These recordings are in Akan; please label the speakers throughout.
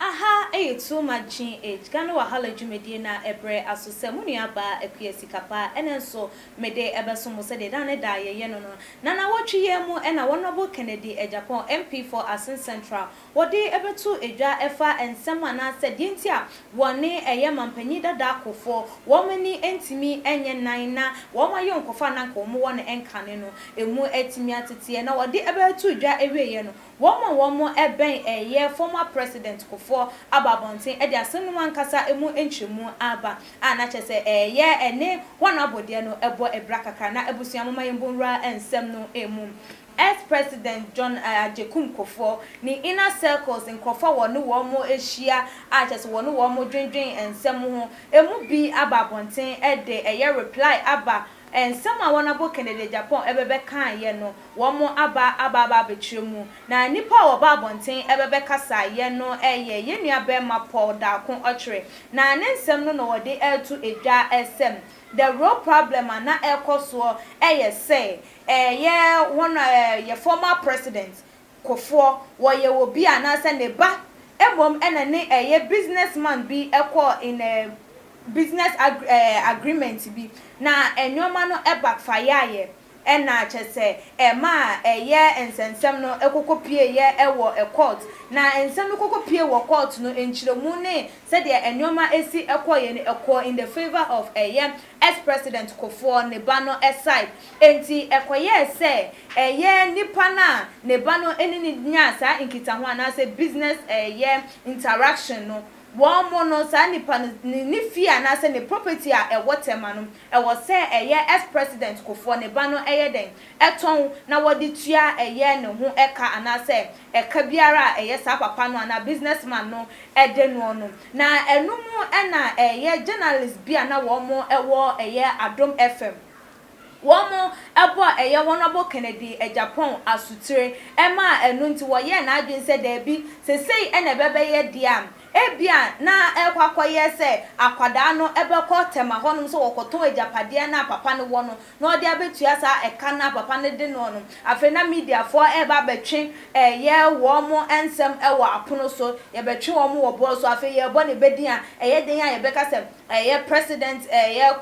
Speaker 1: Aha yɛ Too Much GH, Ghana Wahala dwumadie no a ɛbrɛ aso sɛ mo nua baa Akua Sikapa ɛnɛ nso mede ɛbɛso mo sɛdeɛ daa ne daa yɛyɛ no no. Nanawɔtwe yi ara mu na Honourable Kennedy Agyapong MP for Asin Central wɔde bɛto dwa fa nsɛm anaasɛ deɛ nti a wɔne ɛyɛ mampanyin dada akofoɔ wɔn ani ntumi nyɛ nan na wɔn ayɔnkofa a na anka wɔn wɔ no nkane no ɛmu atumi ateteɛ na wɔde bɛto dwa awieɛ no wɔn a wɔn bɛn ɛyɛ former president kofoɔ aba abɔnten de asɛm no mu ankasa ɛmu nkyerɛmu aba a na kyerɛ sɛ ɛyɛ ɛne wɔn abɔdeɛ no bɔ abira kakra na abusua momma yɛn bɔ nwura nsɛm no mu. Ex President John Agyekum Kufour ne inner circles nkurɔfo a wɔne wɔn ahyia a kyerɛ sɛ wɔne wɔn dwendwen nsɛm ho emu bi aba abɔnten de ɛyɛ reply aba nsɛm a wɔabɔ Kennedy Agyapong bɛbɛ kaeɛ no wɔn aba aba aba abɛkyerɛ mu na nnipa a wɔba abɔnten bɛbɛ kasaeɛ no yɛ yɛn nua barima Paul Darko Ɔkyere na ne nsɛm no na wɔde reto dwa sɛ the real problem a na ɛrekɔ soɔ yɛ sɛ Yɛ hɔn a yɛ former president kofoɔ wɔyɛ obi anaasɛ ne ba mmom na ne yɛ business man bi kɔɔ in a business agreement bi na nnoɔma no backfireeɛ na kyerɛ sɛ ɛmaa yɛ nsɛnsɛm no kɔkɔ pieeɛ wɔ court na nsɛm no kɔkɔ pie wɔ court no nkyerɛmu ne sɛdeɛ nnoɔma si kɔeɛ no kɔɔ in the favour of yɛ S President Kofoɔ ne ba no side enti ɛkɔyɛɛ sɛ ɛyɛ nipa no a ne ba no ne no nyaa saa nkitaho anaasɛ business ɛyɛ interaction no wɔn no saa nipa no ne fie anaasɛ ne property a ɛwɔ Tema no ɛwɔ sɛ ɛyɛ S President Kofoɔ ne ba no yɛ dɛn tɔn na wɔde tua ɛyɛ ne ho ɛka anaasɛ ɛka biara a ɛyɛ saa papa no anaa business man no de noɔ no. Na ɛno mu na ɛyɛ journalist bi a na wɔn wɔ ɛyɛ Adom FM, wɔn bɔ ɛyɛ Honourable Kennedy Agyapong asotire maa ɛno nti wɔyɛɛ n'adwene sɛ daabi, sesei na ɛbɛbɛyɛ deɛ a Ebia na ɛrekɔ akɔyɛ sɛ akwadaa no bɛkɔ tɛma hɔnom sɛ ɔrekɔtɔn agyapadeɛ no a papa no wɔ no na ɔde abɛtua saa ɛka no a papa no de noɔ no. Afei na mediafoɔ reba abɛtwe yɛ wɔn nsɛm wɔ apono so, yɛbɛtwe wɔn wɔ boɔ so, afei yɛrebɔ ne badin a ɛyɛ dɛn a yɛbɛka sɛ ɛyɛ President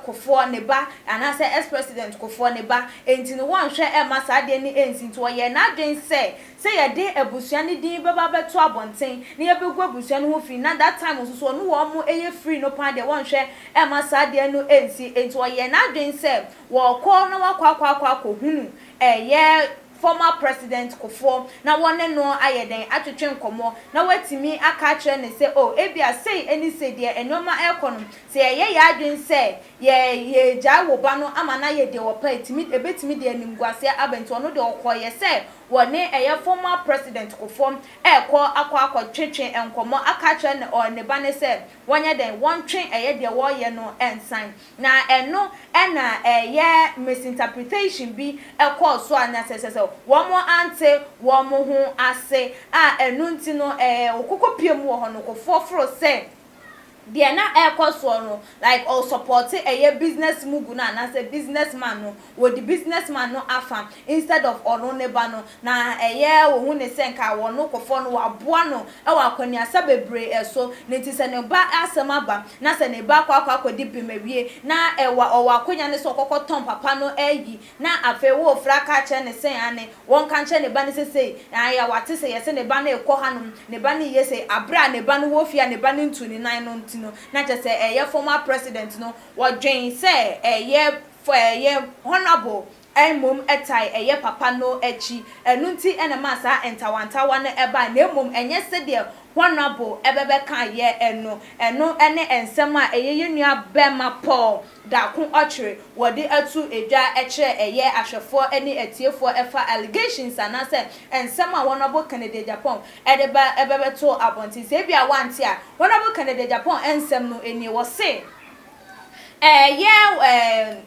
Speaker 1: Kufoɔ ne ba anaasɛ Ex-President Kufoɔ ne ba. Enti no wɔnhwɛ mma saa adeɛ no nsi. Nti ɔyɛɛ n'adwene sɛ Sɛ yɛde abusua ne din bɛba abɛto abɔnten na yɛbɛgu abusua no ho fi na that time nso so ɔno wɔn yɛ free no paa deɛ wɔnhwɛ mma saa adeɛ no nsi nti ɔyɛɛ n'adwene sɛ wɔrekɔ na wakɔ akɔ akɔ akɔ hunu ɛyɛ former president Kufour na wɔne no ayɛ dɛn atwetwe nkɔmmɔ na watumi aka akyerɛ no sɛ oh ebia sei ne sei deɛ nnoɔma ɛrekɔ no sɛ yɛyɛ yɛn adwene sɛ yɛ yɛregyae wo ba no ama no ayɛ deɛ ɔpɛ ɛtumi ɛbɛtumi de animguaseɛ aba nti ɔno deɛ ɔkɔeɛ sɛ wɔ ne ɛyɛ former president Kufuor rekɔ akɔ akɔ twe twe nkɔmmɔ aka akyerɛ ne ɔ ne ba no sɛ wɔnyɛ dɛn wɔntwe ɛyɛ deɛ wɔreyɛ no nsan na ɛno na ɛyɛ misinterpretation bi kɔɔ so a na sɛ sɛ sɛ wɔn ante wɔn ho ase a ɛno nti no ɛɛ ɔkoko pie mu wɔ hɔ no Kufuor foro sɛ deɛ na ɛrekɔ soɔ no like ɔ support ɛyɛ business mugu no anaasɛ business man no wɔdi business man no afa instead of ɔno ne ba no na ɛyɛ wɔhu ne sɛ nka ɔno kɔfɔɔ no waboa no wɔ akwaniasa bebree ɛso ne nti sɛ ne ba asɛm aba na sɛ ne ba akɔ akɔ akɔdi bem awie na ɛwɔ ɔwɔ akwanya no sɛ ɔkɔkɔ tɔn papa no ayi Na afei wo ofra ka kyerɛ ne se, Aane, wɔnka nkyerɛ ne ba no se sei, Aane, wate se yɛse ne ba no rekɔ hanom, ne ba no reyɛ sei, abere a ne ba no wɔ fie a ne ba no ntuu ne nan no nti no, na kyerɛ sɛ ɛyɛ former president no, wɔdwen sɛ ɛyɛ ɛyɛ honourable a mmom ɛtae ɛyɛ papa no akyi, ɛno nti na ɛmaa saa ntawantawa no bae, na mmom ɛnyɛ sedeɛ honourable bɛbɛkaeɛ no, ɛno ne nsɛm a ɛyɛ yɛn nua barima Paul Da ko ɔkyere wɔde ato dwa kyerɛ ɛyɛ ahwɛfoɔ ne atiefoɔ ɛfa allegations anaasɛ nsɛm a Honourable Kennedy Agyapong de ba bɛbɛto abɔnten. Sɛ ebia woante a, Honourable Kennedy Agyapong nsɛm no nie, wɔse ɛyɛ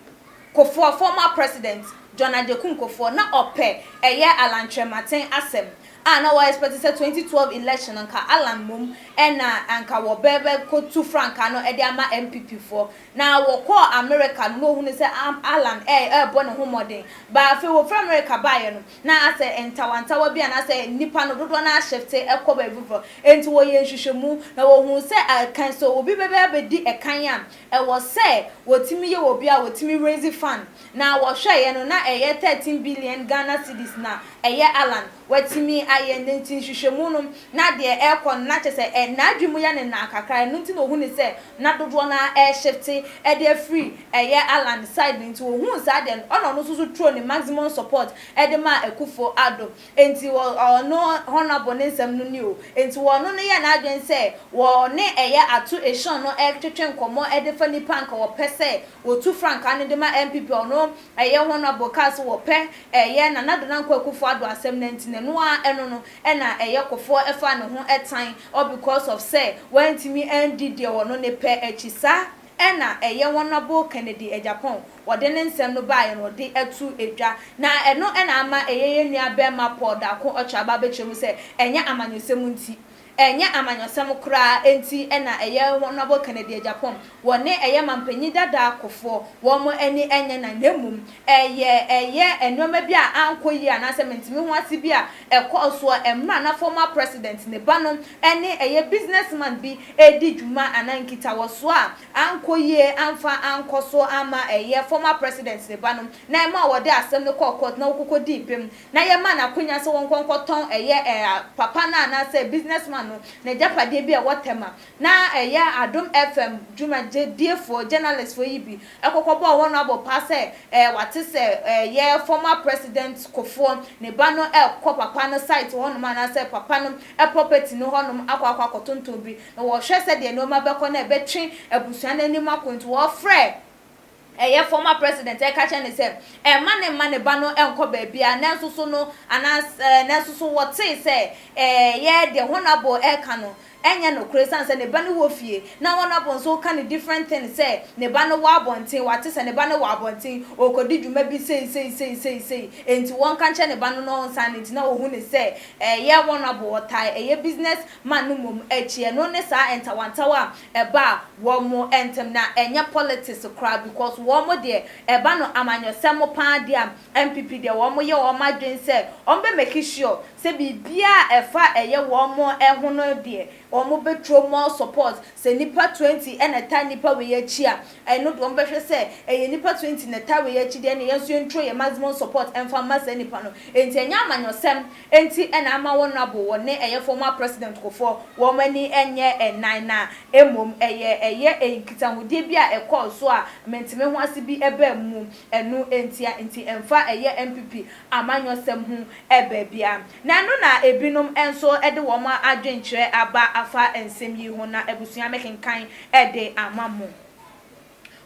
Speaker 1: Kofoɔ, former President John Agyekum Kofoɔ na ɔpɛ ɛyɛ Alan Kyerematen asɛm. Ah na wɔ expect sɛ twenty twelve election no nka Allan mmom na anka wɔ bɛ bɛ kɔ tu frankaa no de ama NPP foɔ na wɔ kɔɔ America no na ohunu sɛ am Allan ɛ ɛɛbɔ ne ho mmɔden but afei wɔ firi America baeɛ no na asɛ ntawa ntawa bi anaasɛ nnipa no dodoɔ no ara shifte ɛkɔ baabi foforɔ enti wɔ yɛɛ nhwehwɛmu na wɔ huu sɛ a kan sɛ obi bɛ bɛ abɛdi ɛkan a ɛwɔ sɛ wɔ tumi yɛ wɔ bi a wɔ tumi raise fund Na wɔhwɛeɛ no na ɛyɛ 13 billion Ghana cedis na ɛyɛ Allan watumi ayɛ no nti nhwehwɛmu no na deɛ ɛrekɔ no na kyerɛ sɛ ɛ n'adwene mu yɛ ne nã kakra ɛno nti na ɔhunuu sɛ na dodoɔ no ara reshifte de afiri ɛyɛ Allan side no nti ɔhuu saa deɛ no ɛna ɔno nso so throwed ne maximum support de maa Akufo-Addo Enti wɔ ɔno Honourable ne nsɛm no ni o, enti wɔ ɔno no yɛ n'adwene sɛ wɔ ne ɛyɛ ato Esion no ɛretwetwe nkɔmmɔ ɛde fa nipa a nka wɔ pɛ sɛ wɔ tu frankaa no de ma NPP a ɔno ɛyɛ Honourable kaa sɛ wɔ pɛ ɛyɛ Nana Addo Nanko Akufo Addo asɛm no nti na ɛno ara ɛno no ɛna ɛyɛ kɔfoɔ ɛfaa ne ho ɛtan ɔ because of sɛ wantumi andi deɛ ɔno ne pɛ akyi saa ɛna ɛyɛ Honourable Kennedy Agyapong wɔde ne nsɛm no baeɛ no de ato dwa, na ɛno na ama ɛyɛ yɛn nua barima Paul Darko Okyeraba abɛkyerɛ mu sɛ, Ɛnyɛ amanyɔsɛm nti, ɛnyɛ amanyɔsɛm koraa nti na ɛyɛ Honourable Kennedy Agyapong, wɔne ɛyɛ mampanyin dada Kufour, wɔn ani nyɛ na, na mmom ɛyɛ ɛyɛ nnoɔma bi a ankɔ yie anaasɛ mentumi ho ase bi a ɛkɔɔ soɔ mmerɛ a na former President, ne ba no ne ɛyɛ businessman bi redi dwuma anaa nkitawɔsoɔ a Ankɔ yie amfa ankɔ so amma ɛyɛ former president ne ba no na ɛmaa wɔde asɛm no kɔɔ court na wɔkɔkɔdii bem na yɛmaa no akwanya sɛ wɔnkɔ nkɔtɔn ɛyɛ ɛɛ papa no anaasɛ business man no nagyapadeɛ bi a ɛwɔ Tema na ɛyɛ Adom FM dwumagyediefoɔ, journalist foɔ yi bi kɔkɔbɔɔ wɔn abɔ paa sɛ ɛɛ wate sɛ ɛyɛ former president Kofoɔ ne ba no ɛɛkɔ papa no site hɔnom anaasɛ papa no property no hɔnom akɔ akɔ akɔtontɔn bi na wɔhwɛ sɛdeɛ nnoɔma bɛkɔ na ɛbɛtwe abusua no anim akɔ nti wɔfrɛ ɛyɛ former president ɛka kyerɛ no sɛ ɛmma no mma ne ba no nkɔ baabiara nanso so no anaas nanso so wɔtee sɛ ɛyɛ deɛ Honourable ɛreka no ɛnyɛ nokorɛ ɛsiane sɛ ne ba no wɔ fie na Honourable nso reka no different thing sɛ ne ba no wɔ abɔnten wɔate sɛ ne ba no wɔ abɔnten ɔrekɔdi dwuma bi sei sei sei sei sei enti wɔnka nkyerɛ ne ba no na ɔnsan no nti na wɔhu no sɛ ɛyɛ Honourable ɔtaa ɛyɛ business ma no mmom akyi ɛno ne saa ntawantawa a ɛba wɔn ntem na ɛnyɛ politics koraa because wɔn deɛ ɛba no amanyɔsɛm paa dea NPP deɛ wɔn yɛ wɔn adwene sɛ wɔn bɛ make sure sɛ biribiara a ɛfa ɛyɛ wɔn ho no deɛ wɔn bɛ throw more support sɛ nnipa twenty na ɛtaa nnipa wei akyi a ɛno deɛ wɔn bɛ hwɛ sɛ ɛyɛ nnipa twenty na ɛtaa wei akyi deɛ ɛneɛ yɛn nso yɛn throw yɛn maximum support mfa mma saa nnipa no enti ɛnyɛ amanyɔsɛm Enti na ama wɔn abo wɔ ne ɛyɛ former president Kufour wɔn ani nyɛ nnan na mmom ɛyɛ ɛyɛ nkitahodie bi a ɛkɔɔ so a mentemehoase bi baa mu ɛno ntia nti ɛmfa ɛyɛ NPP amanyɔsɛm ho baabiara na ɛno na ebinom nso de wɔn adwenkyerɛ aba afa nsɛm yi ho na abusua mekenkan de ama mo.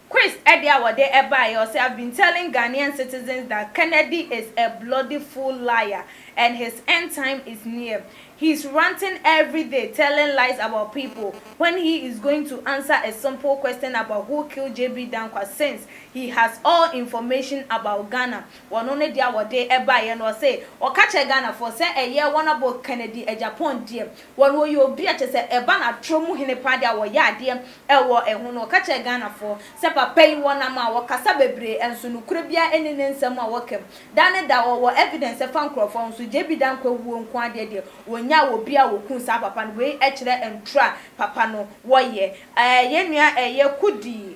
Speaker 1: Chris de a wɔde baeɛ, ɔse, I've been telling Ghanaian citizens that Kennedy is a bloody fool liar and his end time is near. He's ranting everyday telling lies about people when he is going to answer a simple question about who killed JB Danquah since he has all information about Ghana. Wɔ no ne deɛ a wɔde baeɛ no, ɔse, ɔka kyerɛ Ghanafoɔ sɛ ɛyɛ wɔn abɔ Kennedy Agyapong deɛ, wɔn wɔyɛ obi a kyerɛ sɛ ɛba no atorɔ mu hene paa deɛ a wɔyɛ adeɛ. Wɔ ɛho no, ɔka kyerɛɛ Ghanafoɔ sɛ papa yi wɔ nam a ɔkasa bebree nso nokorɛ biara nni ne nsɛm a ɔka mu. Da ne da ɔwɔ evidence ɛfa nkorɔfoɔ ho nso JB Dankwah wuo nko ara deɛ deɛ ɔnyaa wɔ bia a ɔkuu saa papa no. Wei kyerɛ ntorɔ a papa no wɔ yɛ. Yɛn nua Kudi.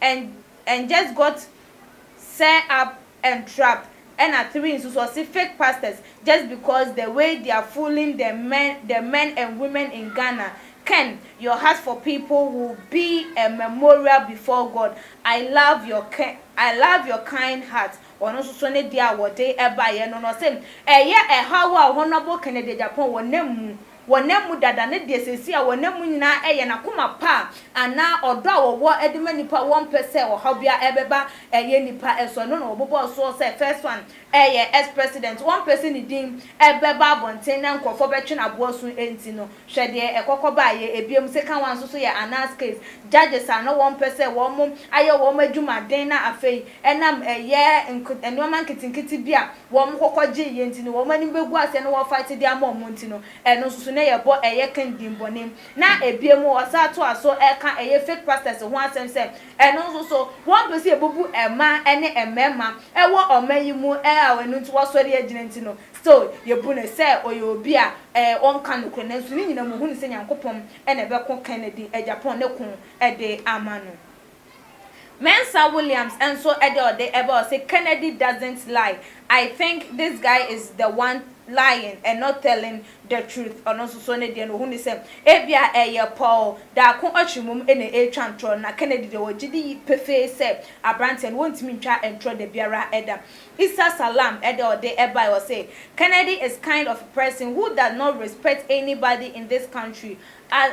Speaker 1: and and just got sir up and trap ɛna three nso so ɔse fake pastors just because the way they are fooling the men the men and women in Ghana ken your heart for people will be a memorial before God I love your ken I love your kind heart ɔno nso so ne deɛ a wɔde baeɛ no no ɔse ɛyɛ ɛhaw a honourable Kennedy Agyapong wɔ n'amu wɔnam mu dada ne deɛ seesei a wɔnam mu nyinaa yɛ n'akoma pa anaa ɔdɔ a wɔwɔ de ma nnipa a wɔmpɛ sɛ ɔhaw biara bɛba yɛ nnipa so. Ɛno na wɔbobɔɔ soɔ sɛ First One yɛ ex-president, wɔmpɛ sɛ ne din bɛba abɔnten na nkurɔfoɔ bɛtwe no aboɔ so nti no. Hwɛ deɛ ɛkɔkɔ baeɛ. Bio, Second One nso so yɛ anarchist, judges a na wɔmpɛ sɛ wɔayɛ wɔn adwuma den na afei ɛnam ɛyɛ nneɛma nketenkete bi a wɔn kɔkɔ gyee yɛn nti no, wɔn anim bɛgu ase na wɔ'fight de ama wɔn nti no, ɛno nso so na yɛbɔ ɛyɛ king din bɔne. Na ebiem ɔsan toa so ka ɛyɛ fake pastors ho asɛm sɛ, ɛno nso so wɔn pɛ sɛ yɛbubu mmaa ne mmarima wɔ ɔman yi mu a ɛno nti wɔ'asɔre agyina nti no, still yɛbu no sɛ ɔyɛ obi a ɔnka nokorɛ. Nanso ne nyinaa mu ɔhunu sɛ Nyankopɔn na ɛbɛko Kennedy Agyapong ne ko de ama no. Mensah Williams nso de ɔde ba ɔse Kennedy doesn't lie, I think this guy is the one lying and not telling the truth ɔno nso so ne deɛ no ɔhu ne sɛ ebia ɛyɛ pɔw daako ɔkye mom na ɛretwa ntorɔ no na Kennedy deɛ ɔgye di pefee sɛ aberanteɛ no wɔntumi ntwa ntorɔ da biara da. Issa Salam de ɔde bae ɔse Kennedy is kind of person who does not respect anybody in this country a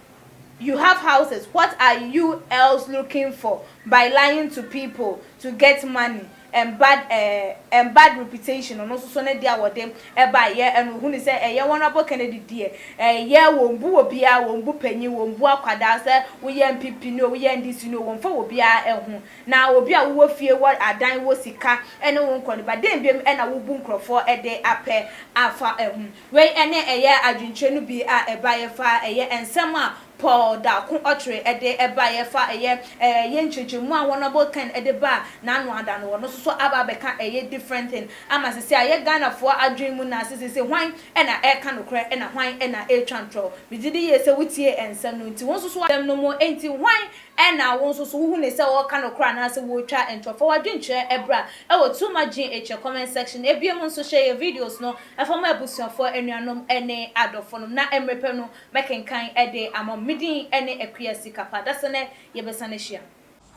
Speaker 1: You have houses what are u else looking for by lying to people to get money and bad eh and bad reputation ɔno nso so ne deɛ a wɔde ɛbae yɛ ɛna ɔhu ne sɛ ɛyɛ honourable Kennedy deɛ ɛyɛ wɔn bu wɔ biara wɔn bu panyin wɔn bu akwadaa sɛ woyɛ npp ni o woyɛ NDC ni o wɔn fa wɔ biara ɛho na obi a wowɔ fie wɔ adan wɔ sika ɛne wo nkɔ no ba dɛn biom ɛna wobu nkorɔfoɔ ɛde apɛ afa ɛho. Wei ne ɛyɛ adwenkyerɛ no bi a ɛbaeɛ fa ɛyɛ nsɛm a Paul da ko ɔtwere de baeɛ fa ɛyɛ ɛyɛ nkyerɛkyerɛmu a Honourable Ken de baa n'ano ada no. Ɔno nso so aba abɛka ɛyɛ different thing ama sese ayɛ Ghanafoɔ adwene mu na sese hwan na ɛreka nokorɛ na hwan na ɛretwa ntorɔ. Megye di yie sɛ wotie nsɛm no nti wo nso so asɛm no mu nti hwan na wo nso so wohu no sɛ ɔreka nokorɛ anaasɛ ɔretwa ntorɔ. Fa w'adwenkyerɛ bra wɔ Too Much Gene Akyire comment section. Ɛbiom nso hyɛ yɛn videos no. Ɛfam abusuafoɔ, anuanom ne adɔfonom, na mmerɛ pɛ no mɛkenkan de ama mo. Me din ne Akua Sikapa. Dasa nɛ yɛbɛsane ahyia.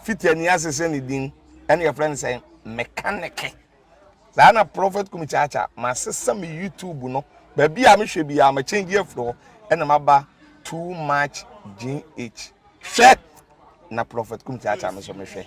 Speaker 1: Fiti ani ase
Speaker 2: sɛ ne din ɛna yɛfrɛ no sɛ Mekanɛke. Saa na Prophet Kumi Kyakya masesa me YouTube no baabi a mehwɛ biara ma change afiri hɔ ɛna maba Too Much GH. Hwɛ! Na Prophet Kumi Kyakya no nso mehwɛ.